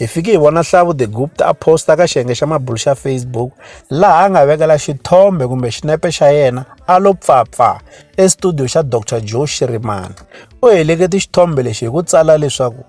Hi fike hi vona Hlavu de Gupta a posta ka xiyenge xa mabulu xa Facebook laha a nga vekela xithombe kumbe xinepe xa yena a lo pfapfa estudio xa Dr Joe Shirimani. U helekete xithombe lexi hi ku tsala leswaku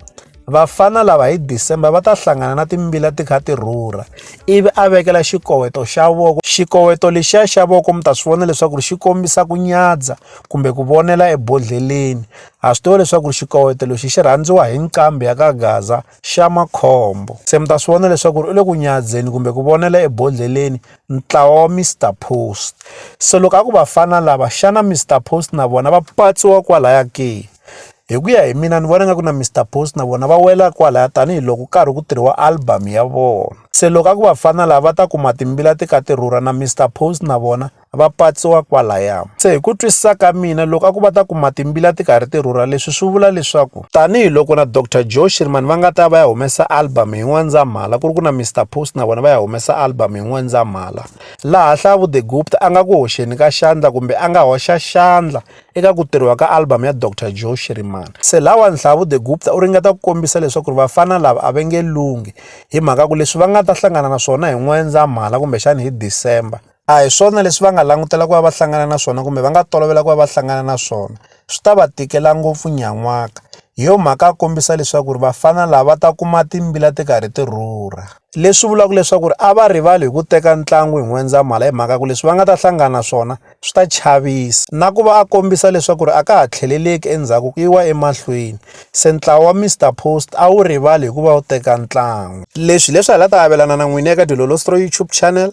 vafana lava hi December va ta hlangana na timbila ti kha ti rhurha ivi a vekela xikoweto xa voko xikoweto lexiya xa voko mi ta swi vona leswaku xi kombisa ku nyadza kumbe ku vonela ebodhleleni Ha swi tiva leswaku xikoweto lexi xi rhandziwa hi nqambi ya ka Gaza xa makhombo. Se mi ta swi vona leswaku u le ku nyadzeni kumbe ku vonela ebodlheleni ntlawa wa Mr Post. Se loko a ku vafana lava xana Mr Post na vona va patsiwa kwalaya ke? Hi ku ya hi mina ni vona nga ku na Mr Post na vona va wela kwalaya tanihiloko karhi ku tirhiwa album ya vona. Se loko a ku vafana lava va ta kuma timbila ti ka ti rhurha na Mr Post na vona va patsiwa kwalaya. Se hi ku twisisa ka mina loko a ku va ta kuma timbila ti karhi ti rhurha leswi swi vula leswaku tanihiloko na Dr Joe Shirimani va nga ta va ya humesa album hi N'wendzamhala ku ri ku na Mr Post na vona va ya humesa album hi N'wendzamhala laha Hlavu the Gupta a nga ku hoxeni ka xandla kumbe a nga hoxa xandla eka ku tirhiwa ka album ya Dr Joe Shirimani se lawa Nhlavu the Gupta u ringeta ku kombisa leswaku ri vafana lava a va nge lunghi hi mhaka ku leswi va nga ta hlangana na swona hi N'wendzamhala kumbexani hi December a hi swona leswi va nga langutela ku va va hlangana na swona kumbe va nga tolovela ku va va hlangana na swona swi ta va tikela ngopfu nyan'waka hi yo mhaka a kombisa leswaku ri vafana lava va ta kuma timbila ti karhi ti rhurha leswi vulaka leswaku ri a va rivali hi ku teka ntlangu hi n'wendzamhala hi mhaka ku leswi va nga ta hlangana na swona swi ta chavisa na ku va a kombisa leswaku ri a ka ha tlheleleki endzhaku ku yiwa emahlweni se ntlawa wa mr post a wu rivali hi ku va wu teka ntlangu leswi leswi hi la ta avelana na n'wini eka dilolostro youtube channel